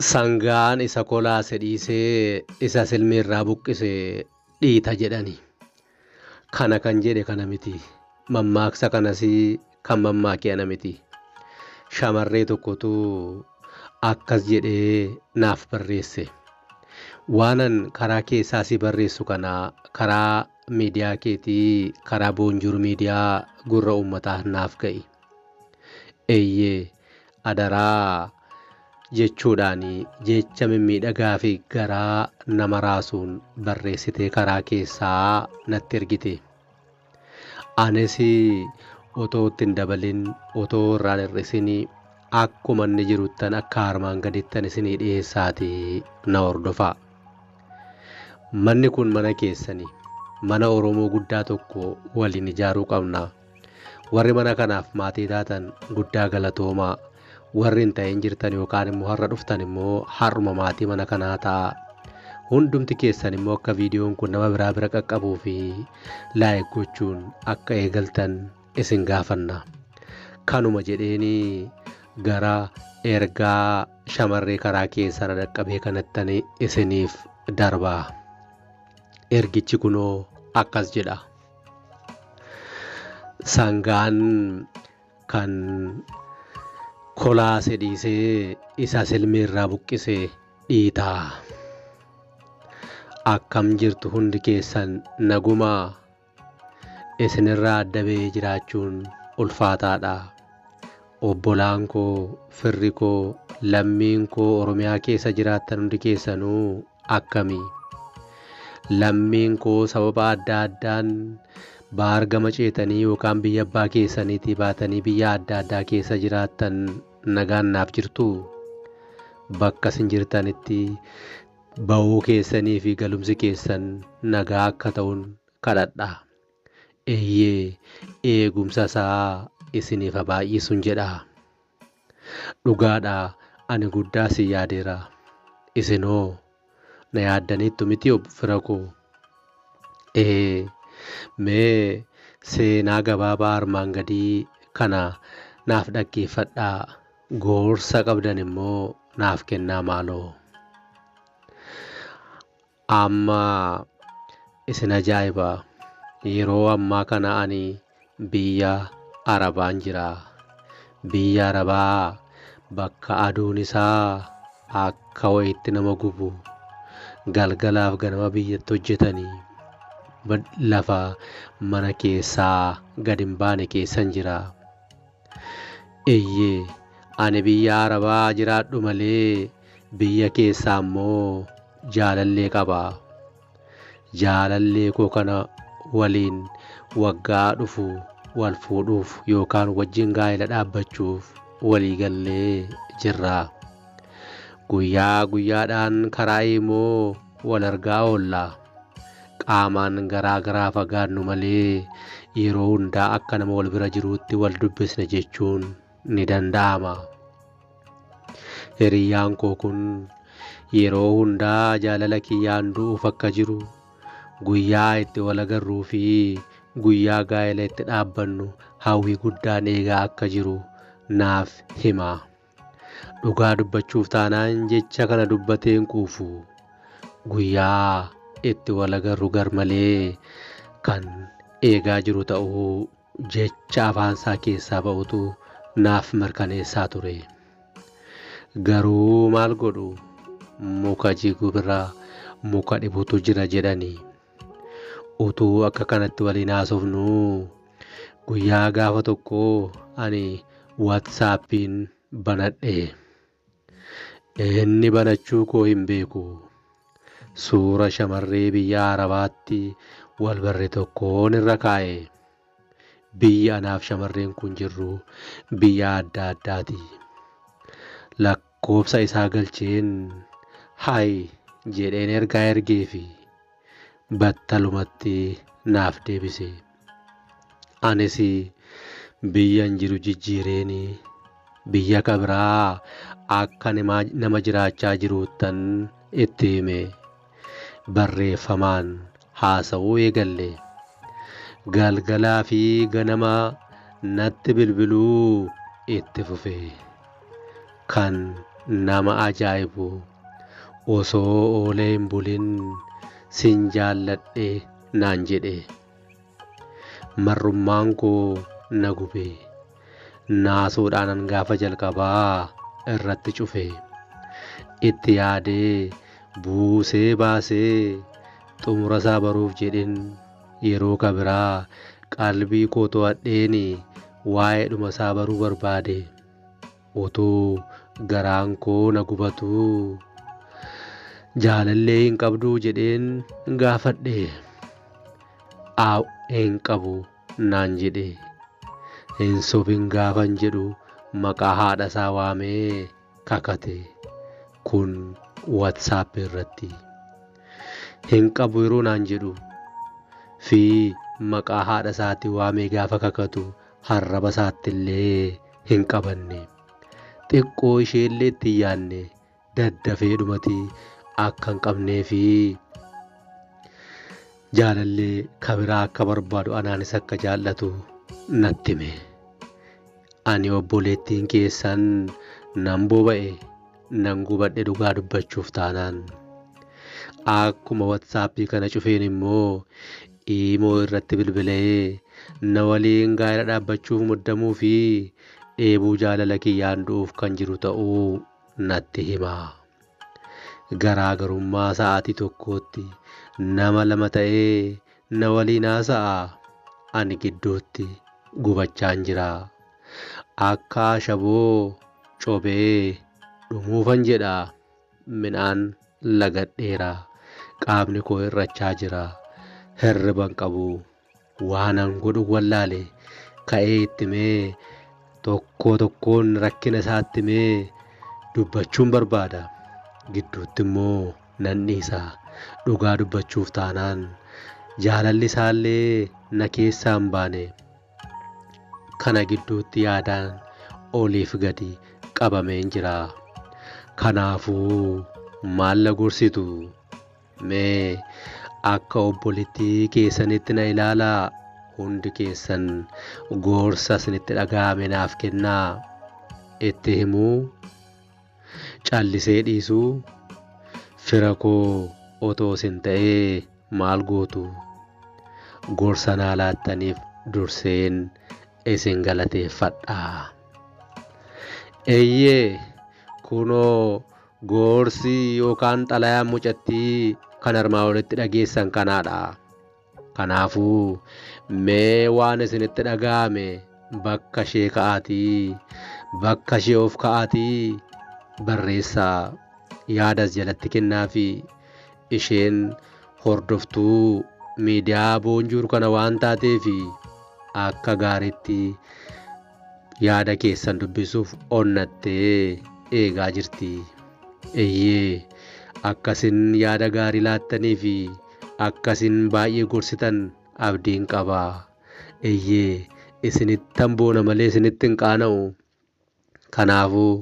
Sangaan isa kolaase dhiisee isa silmi irraa buqqise dhiita jedhani. Kana kan jedhe kana miti. Mammaaksa kanas kan mammaake ana miti. Shamarree tokkotu akkas jedhee naaf barreesse. Waanan karaa keessaa si barreessu kana karaa miidiyaa keetii karaa boonjuur miidiyaa gurra uummataa naaf ga'i. Eeyyee Adaraa! jechuudhaan jecha mimmiidhagaafi garaa nama raasuun barreessitee karaa keessaa natti ergite. Anis otoo itti hin dabalin, otoo irraa hin hir'isin akkuma inni jiruttan akka armaan gadittan isinii dhiheessaatii na hordofaa. Manni kun mana keessani. Mana Oromoo guddaa tokko waliin ijaaruu qabna. Warri mana kanaaf maatii taatan guddaa galatoomaa. Warri hin ta'in jirtan yookaan immoo har'a dhuftan immoo har'uma maatii mana kanaa ta'a. Hundumti keessan immoo akka viidiyoon kun nama biraa bira qaqqabuu fi laayik gochuun akka eegaltan isin gaafanna. Kanuma jedheenii gara ergaa shamarree karaa keessan dhaqqabee kanattani isiniif darbaa. Ergichi kunoo akkas jedha. Sangaan kan kolaase dhiisee isa silmii irraa buqqise dhiitaa. Akkam jirtu hundi keessan nagumaa isinirraa adda ba'ee jiraachuun ulfaataadha. Obbolaan koo, firri koo, lammiin koo Oromiyaa keessa jiraattan hundi keessanuu akkami? Lammiin koo sababa adda addaan baar gama ceetanii yookaan biyya abbaa keessaniitii baatanii biyya adda addaa keessa jiraattan nagaan naaf jirtuu? Bakka isin jirtanitti ba'uu keessanii fi galumsi keessan nagaa akka ta'un kadhadha. Eeyyee, eegumsa isaa isiniif haa baay'isun jedha. Dhugaadha, ani guddaa isin yaadeera. Isin hoo na yaaddaniittu miti ob fira koo? Ee, mee seenaa gabaabaa armaan gadii kana naaf dhaggeeffadhaa, gorsa qabdan immoo naaf kennaa maaloo. Amma isin ajaa'iba yeroo ammaa kana ani biyya Arabaan jira. Biyya Arabaa bakka aduun isaa akka wayiitti nama gubu, galgalaaf ganama biyyatti hojjetanii lafa mana keessaa gad hin baane keessan jira. Eyyee ani biyya arabaa jiraadhu malee biyya keessaa immoo jaalallee qaba. Jaalallee koo kana waliin waggaa dhufu wal fuudhuuf yookaan wajjin gaa'ela dhaabbachuuf walii gallee jirra. Guyyaa guyyaadhaan karaa imoo wal argaa oolla. Qaamaan garaa garaa fagaannu malee yeroo hundaa akka nama wal bira jiruutti wal dubbisna jechuun ni danda'ama. Hiriyyaan koo kun yeroo hundaa jaalala kiyyaan du'uuf akka jiru guyyaa itti wal agarruu fi guyyaa gaa'ela itti dhaabbannu hawwii guddaan eegaa akka jiru naaf hima. Dhugaa dubbachuuf taanaan jecha kana dubbatee hin quufu. Guyyaa itti wal agarru garmalee kan eegaa jiru ta'uu jecha afaansaa keessaa ba'utu naaf mirkaneessaa ture. Garuu maal godhu muka jigu bira muka dhibutu jira jedhani. Utuu akka kanatti waliin haasofnuu guyyaa gaafa tokko ani WhatsAppiin banadhe. Inni banachuu koo hin beeku. Suura shamarree biyya Arabaatti wal barre tokkoon irra kaa'e. Biyyi anaaf shamarreen kun jirru biyya adda addaati. Lakk Quubsa isaa galcheen Hi jedheen ergaa ergeefi battalumatti naaf deebise. Anis biyyan jiru jijjiireen biyya ka biraa akka nama jiraachaa jiruuttan itti hime. barreeffamaan haasa'uu eegalle. Galgalaa fi ganama natti bilbiluu itti fufe. Kan nama ajaa'ibu osoo oolee hin bulin sin jaalladhe naan jedhe. marrummaan koo na gube naasuudhaanan gaafa jalqabaa irratti cufe itti yaadee buusee baasee xumurasaa baruuf jedhin yeroo kabiraa qalbii koo to'adheeni waa'ee dhumasaa baruu barbaade. Utuu garaan koo na gubatuu jaalallee hin qabduu jedheen gaafadhe. Aaw hin qabu naan jedhe. Hin sobin gaafan jedhu maqaa haadha isaa waamee kakate. Kun WhatsApp irratti. Hin qabu yeroo naan jedhu fi maqaa haadha isaatti waamee gaafa kakatu arraba isaattillee hin qabanne. Xiqqoo isheellee itti hin yaanne daddafee dhumati akka hin qabnee fi jaalallee kabiraa akka barbaadu anaanis akka jaallatu natti hime. Ani obboleettiin keessan nan boba'e nan gubadhe dhugaa dubbachuuf taanaan. Akkuma watsaappii kana cufeen immoo Iimoo irratti bilbilee na waliin gaa'ela dhaabbachuuf muddamuu fi dheebuu jaalala kiyyaan du'uuf kan jiru ta'uu natti hima. Garaagarummaa sa'aatii tokkootti nama lama ta'ee na waliin haasa'a. Ani gidduutti gubachaan jira. Akka ashaboo cobee dhumuufan jedha. Midhaan lagadheera. Qaamni koo hir'achaa jira. Hirriba hin qabu. Waanan godhu wallaale. Ka'ee itti himee tokkoo tokkoon rakkina isaatti himee dubbachuun barbaada. Gidduutti immoo nan dhiisa. Dhugaa dubbachuuf taanaan jaalalli isaallee na keessaa hin baane. kana gidduutti yaadaan oliif gadi qabameen jira. Kanaafuu maal na gorsitu? Mee akka obbolittii keessanitti na ilaalaa hundi keessan gorsa isinitti dhaga'ame naaf kennaa. Itti himuu? Callisee dhiisuu Fira koo otoo isin ta'ee maal gootu? Gorsa naa laattaniif durseen isin galateeffadha. Eeyyee kunoo gorsi yookaan xalayaan mucattii kan armaa olitti dhageessan kanaadha. Kanaafuu, mee waan isinitti dhaga'ame bakka ishee ka'aatii, bakka ishee of ka'aatii barreessaa. Yaada as jalatti kennaafii. Isheen hordoftuu miidiyaa Boonjuur kana waan taateef akka gaariitti Yaada keessan dubbisuuf onnattee eegaa jirti. Eeyyee, akka isin yaada gaarii laattanii fi akka isin baay'ee gorsitan abdiin qaba. Eeyyee, isinittan boona malee isinitti hin qaana'u. Kanaafuu,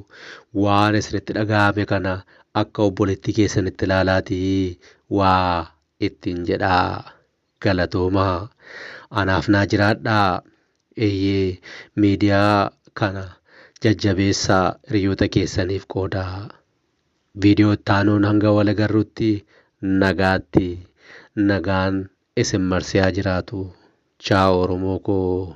waan isinitti dhaga'ame kana akka obboleettii keessanitti ilaalaatii waa ittiin jedhaa. galatoomaa anaaf naa jiraadhaa eyyee miidiyaa kana jajjabeessaa hiriyoota keessaniif qoodaa video itti aanuun hanga wal agarrutti nagaatti nagaan isin marsee haa jiraatu chaaw oromoo koo.